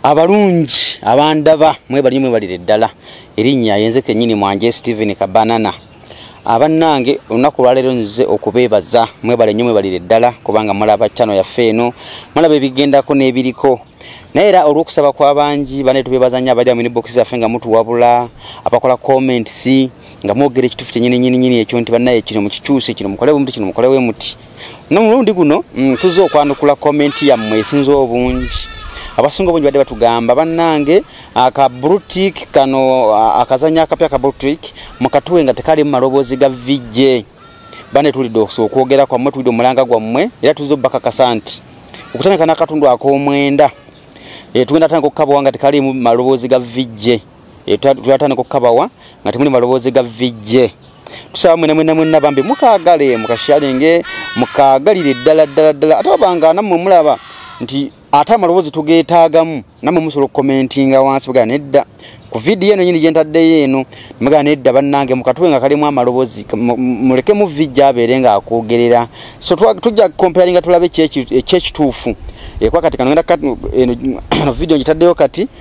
abalungi abandaba mwebalinyo mwebalire ddala erinnya yenze kenyini mwanje stephen kabanana abannange olunaku lwaleero nzize okubeebaza mwebale nnyo mwebalire ddala kubanga mulaba chano yaffe eno mulaba ebigendako n'ebiriko naye era olw'okusaba kw'abangi bane tubeebaza nnyo abaja mu inbox zaffe nga mutuwabula abakola comments nga mwogera ekituufu kyenyininyininyini ekyo nti bannaye kino mukikyuse kino mukole bumuti kino mukole wemuti nomulundi guno mm, tuzze okwanukula komenti yammwe esinza obungi abasinga obungi badde batugamba bannange aka brutik kano akazanya akapya ka brutik mukatuwe nga tekalimu maloboozi ga vijje bane tulidde okwogera kwammwe tulidde omulanga gwammwe era tuzze obubakakasa nti okutandika n'akatundu ak'omwenda eh, tugenda tandika okukabwa nga tekalimu maloboozi ga vijje e, twatandika okukabawa nga temuli maloboozi ga vijje tusaba mwena mwena mwena bambi mukagale mukashalinge mukagalire ddala ddala ddala ate obanga namwe mulaba nti ate amaloboozi tugeetaagamu namwe musobola okukomentinga wansi bwegana nedda ku vidiyo eno nyini gyentaddeyo eno mugana nedda bannange mukatube nga kalimu amaloboozi mulekemu vijja abeere ng'akwogerera so tujja comparinga tulabe ekyekituufu ekwakati kanogenda eno vidiyo ngitaddeyo kati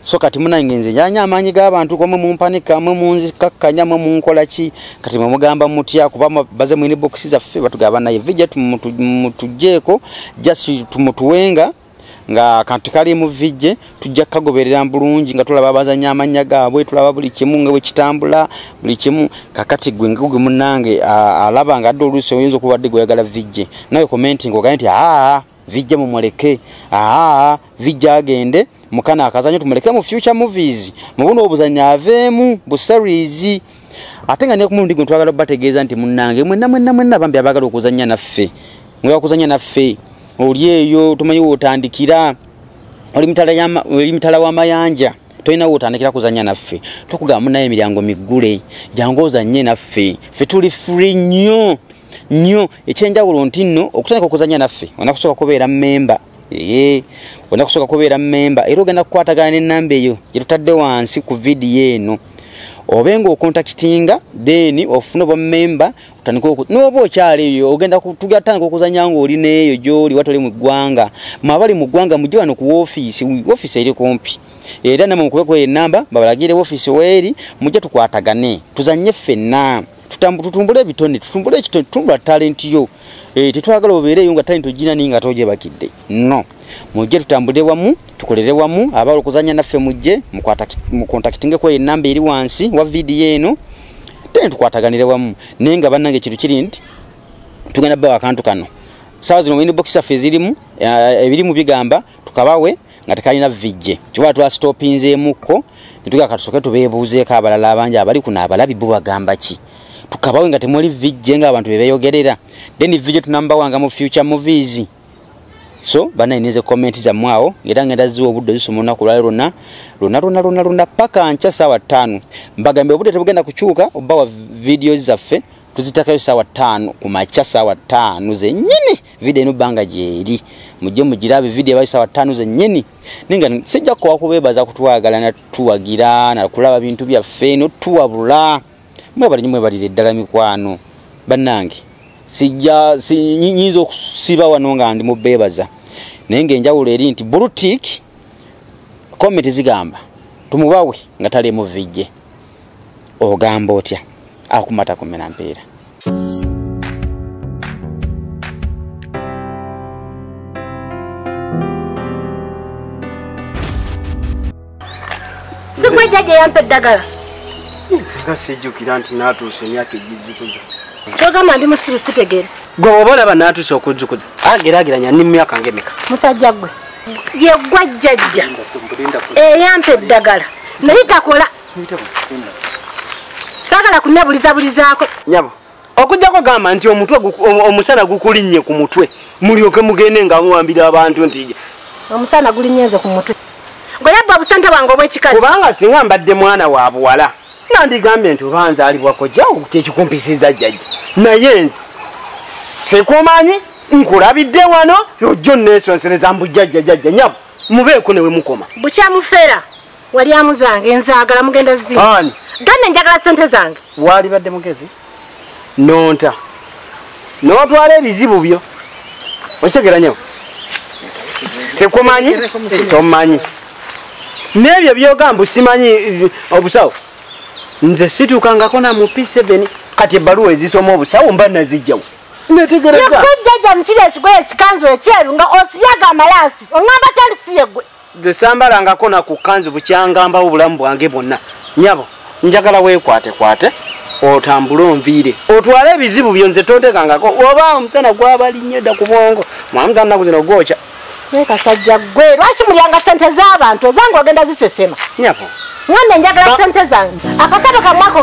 so kati munange nze njanya amaanyi g'abantu gomwe mumpanika mwe munzikakkanya mwe munkola ki kati mwe mugamba mutya kuba baze mwini bokisi zaffe batugaba naye vija tumutugjeeko just tumutuwenga nga kantu kali mu vijje tujja kukagoberera bulungi nga tulaba abazanya amannya gaabwe tulaba buli kimu nga bwe kitambula buli kimu kakati gwe nga gwe munnange alaba nga adde oluusi oyinza okuba dde gweyagala vijje nawe commenting ogaye nti aa vijja mumuleke aa vijja agende mukana akazanyo tumuleke mu future movies mubuno obuzanyo aveemu bu series ate nga nekumulundi gwe twagala bategeeza nti munange mwenna mwenna mwenna bambi abagala okuzanya naffe mwebakuzanya naffe oli eyo tumanyi wotandikira oli mitala wamayanja tolina wotandikira kuzanya naffe tukugamba munaye emiryango miggule jangu ozanye naffe fe tuli free nnyo nnyo ekyenjawulo nti nno okutandika okuzanya naffe olina kusooka kubeera mmemba ee olina kusooka kubeera mmemba era ogenda kukwatagana n'ennamba eyo gye tutadde wansi ku vidiyo eno obe ng'okontakitinga then ofuna obwa mmemba otandika oku n'oba okyala eyo ogenda tugatandika okuzanya ng'oli n'eyo gy'oli watali mu ggwanga mwabali mu ggwanga mujje wano ku woofiisi woofiisi eri kumpi era namwe mukube kweyo ennamba babalagiire woofiisi weeri mujje tukwatagane tuzanye ffenna tutumbule ebitone tutumbule ekitone tutumbula talenti yo eh, tetwagala obeereyo nga talenti ogina naye nga togyebakidde no mujje tutambule wamu tukolere wamu abala okuzanya naffe mujje mukontakitingeko enamba eri wansi wa vidiyo eno tene tukwataganire wamu naye nga bannange ekintu kiri nti tugenda bawa akantu kano saawa zino wine bokisi affe ezirimu eh, ebirimu bigamba tukabawe nga tekalina vijje kyoba twasitopinzeemukko netugaa katusoke tubeebuuzeeko abalala abangi abali kuno abalabi bo bagamba ki tukabawe nga temuli vijje ngaabantu bebeyogerera then vijje tunambawanga mu future movies so banaineze komenti zammwe awo era ngenda ziwa obudde zisoma olunaku lwali lwonna lwonna lwonna lwonna lwonna paka nkya saawa ttaano mbagambye obudde tebugenda kukyuka obawa vidiyo zaffe tuzitakayo saawa ttaano ku makya saawa ttaano zenyini video eno banga jeeri mujje mugirabe video ebaisa wa tano zennyini ninga sijja kuwa kubebaza kutwagala na tuwagira na kulaba bintu bya feno tuwabula mwe bali nyimwe bali ddala mikwano banange sijja sinyinza okusiba wano nga ndi mubebaza naye nga enjawulo eri nti bulutik komenti zigamba tumubawe nga tali muvijje ogamba otya akumata kumena mpiira sigwe jjaja eyampa eddagala nsinga sijjukira nti naatuusa emyaka egizzukuza kyogamba ndi musiru sitegere gwe oba olaba naatuusa okuzzukuza agerageranya ni mumyaka ngemeka musajja gwe yeggwa jjajja eyampa eddagala naye takola saagala kunnebulizabulizaako nyabo okujjako gamba nti omutwe omusana gukulinnye ku mutwe mulyoke mugende nga muwambira abantu nti omusana gulinnye nze ku mutwe gwe yabba obusente bwange obwekikazi kubanga singa mbadde mwana wa buwala nandigambye nti oba nzaalibwako jawo kyekikumpisizza jjajja naye nze sikumanyi nkulabidde wano yojjo nneesonsereza mbujjajjajajja nyabo mubeeko ne we mukoma bukyamufera walyamu zange nzagala mugenda zi gane njagala sente zange wali badde mugezi nonta notwala ebizibu byo okitegera nyo sikumanyi tomanyi nebyo byogamba simanyi eh, obusawo nze situukangako na mu p7 kati ebbaluwa ezisoma obusawo mba nazijjawo netegereza jaja mukiri ekigoye ekikanzu ekyeru nga osiyaga amalaasi oŋamba talisiye gwe nze sambalangako naku kanzu bukyangambawo obulamu bwange bwonna nyabo njagala wekwatekwate otambule onviire otwale ebizibu byo nze tontekangako oba omusana gwabalinnyo dda ku bwongo mwamuzanaku zino gwokya naye kasajja gwe lwaki mulyanga sente z'abantu ezange ogenda zisesema nyabo mwana njagala sente zange akasaba kamwako